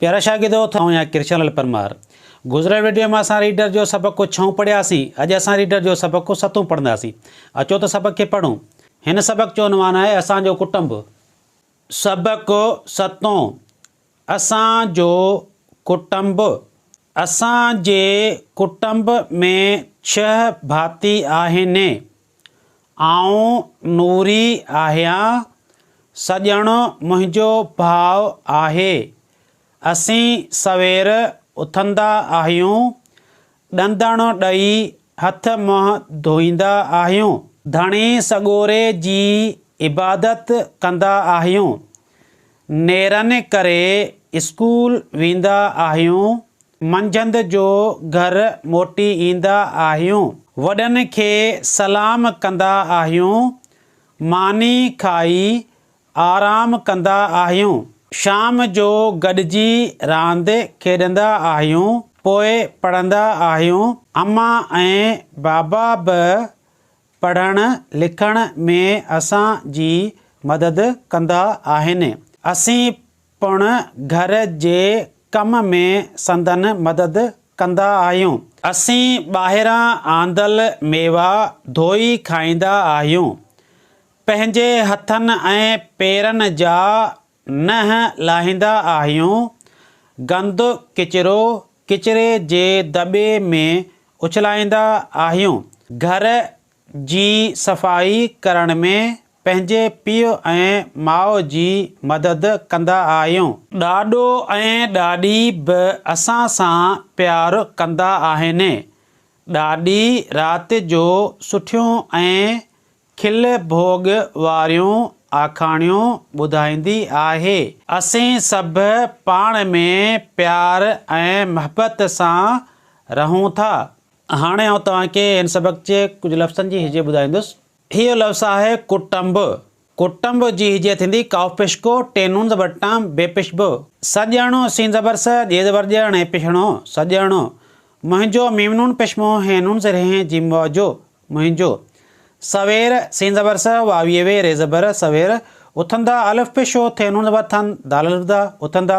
پيارا شاگردو ٿو آهيان ڪرشن لال پرمار گذريل وڊيو ۾ اسان ريڊر جو سبق ڪو ڇهون پڙهيا سين اڄ اسان ريڊر جو سبق ڪو ستون پڙهندا سين اچو ته سبق کي پڙهون هن سبق جو عنوان آهي اسان جو ڪٽنب سبق ستون اسان جو ڪٽنب اسان جي ڪٽنب ۾ ڇهه ڀاتي آهن. آئون نوري آهيان، سڄڻ منهنجو ڀاء آهي. اسين سوير اٿندا آهيون، ڏندڻ ڏئي هٿ منهن ڌوئيندا آهيون. ڌڻي سڳوري جي عبادت ڪندا آهيون. نيرن ڪري اسڪول ويندا آهيون. منجهند جو گهر موٽي ايندا آهيون. وڏن کي سلام ڪندا آهيون. ماني کائي آرام ڪندا آهيون. شام جو گڏجي راند کيڏندا آهيون. پوء پڙهندا آهيون. امان ۽ بابا به پڙهڻ لکڻ ۾ اسان جي مدد ڪندا آهن. اسين پڻ گهر جي ڪم ۾ سندن مدد ڪندا آهيون. اسين ٻاهران آندل ميوا ڌوئي کائيندا آهيون. پنهنجي هٿن ۽ پيرن جا ننهن لاهيندا آهيون. گند ڪچرو ڪچري جي دٻي ۾ اڇلائيندا آهيون. گهر جي صفائي ڪرڻ ۾ پنهنجي پيء ۽ ماء جي مدد ڪندا آهيون. ڏاڏو ۽ ڏاڏي به اسان سان پيار ڪندا آهن. ڏاڏي رات جو سٺيون ۽ کل ڀوڳ واريون آکاڻيون ٻڌائيندي آهي. اسين سڀ پاڻ ۾ پيار ۽ محبت سان رهون ٿا. هاڻي آئون توهان کي هن سبق جي ڪجهه لفظن جي هجي ٻڌائيندس. هيء لفظ آهي ڪٽنب. ڪٽنب جي هجي ٿيندي قاف پيش ڪو، ٽي نون زبر ٽان، بي پيش ب. س ڄڻو، سين زبر س، ڄي زبر ڄڻ ۽ پيشڻو، سڄڻو. منهنجو، ميم نون پيش مو، هين نون زير هين، جيم واو جو، منهنجو. سوير، سين زبر س، واو يي وي، ري زبر ر، سوير. اٿندا، الف پيش او، ٿي نون زبر ٿن، دال الف دا، اٿندا.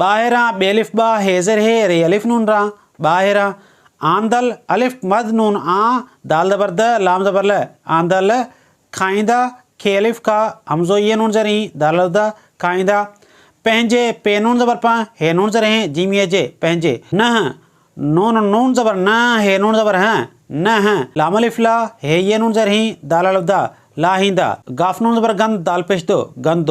ٻاهران ٻيلف ٻا هيزر هي ري الف نون را ٻاهر آندل الف مد نون آ دال زبر د لام زبر ل آندل کائيندا کي الف کا همزو يه نون زرين دال الف د کائيندا پنهنجي پي نون زبر پن هي نون زر هين جيم يه جي پنهنجي نه نون نون زبر ن هي نون زبر ه نه هه لام الف لا هي يه نون زر هين دال الف د لاهيندا ڳاف نون زبر ڳند دال پيش د ڳند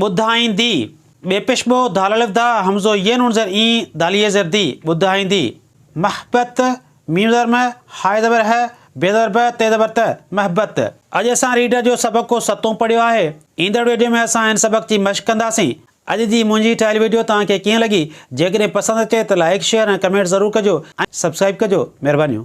ٻڌائيندي، ٻيپشبو ڌالالفدا همزو ين ان زر اين داليه زر دي، ٻڌائيندي، محبت، ميم زر مه، هاء زبر هه، بي زبر به، تي زبر ته، محبت. اڄ اسان ريڊر جو سبق ڪو ستون پڙهيو آهي. ايندڙ ويڊيو ۾ اسان هن سبق جي مشق ڪنداسين. اڄ جي منهنجي ٺاهيل ويڊيو توهان کي ڪيئن لڳي؟ جيڪڏهن پسند اچي ته لائيڪ شيئر ۽ ڪمينٽ ضرور ڪجو ۽ سبسڪرائيب ڪجو. مهربانيون.